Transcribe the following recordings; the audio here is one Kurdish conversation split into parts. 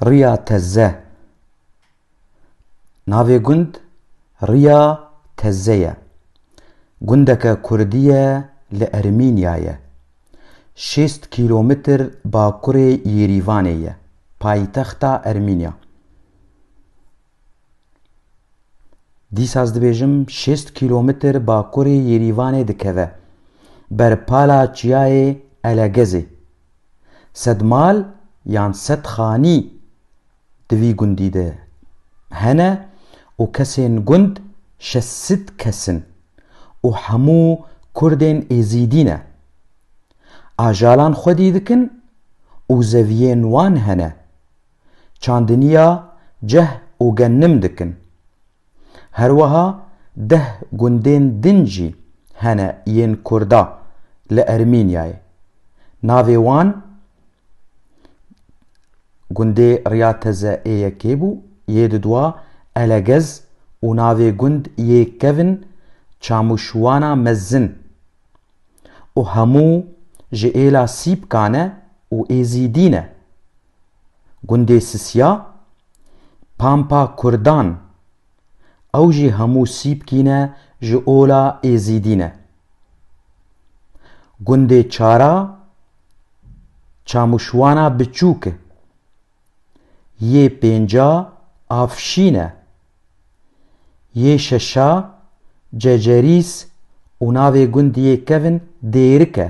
Riya Tezze Navê gund Riya Tezze ye. Gundeke kurdî ye li Ermînyayê. Şêst kîlometr bakurê Yêrîvanê ye, paytexta Ermînya. Dîsa ez dibêjim şêst kîlometr bakurê Yêrîvanê dikeve, ber pala çiyayê Elegezê. Sed mal yan sed xanî di vî gundî de hene û kesên gund şeş sîd kes in û hemû kurdên êzîdî ne. Ajalan xwedî dikin û zeviyên wan hene. çandiniya ceh û genim dikin. Herweha deh gundên din jî hene yên kurda li Ermînyayê. Navê wan gundê Riya Teze ê yekê bû, yê didwa Elegez û navê gund yê kevn Çamûşwana Mezin û hemû ji êla Sîpkan e û Êzîdî ne. Gundê Sisya, Pampa Kurdan, ew jî hemû Sîpkî ne ji ola Êzîdî ne. Gundê Çara, Çamûşwana Biçûk, yê pênca Afşîn e. Yê şeşa Cecerîs û navê gundiyê kevn Dêrik e.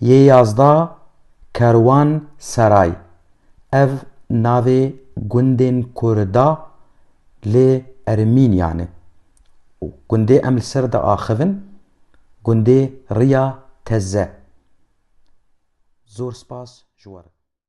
Yê yazda Kerwan Seray, ev navê gundên ku re da li Ermînyan e. Gundê em li ser diaxivin gundê Riya Teze. Zor spas ji we re.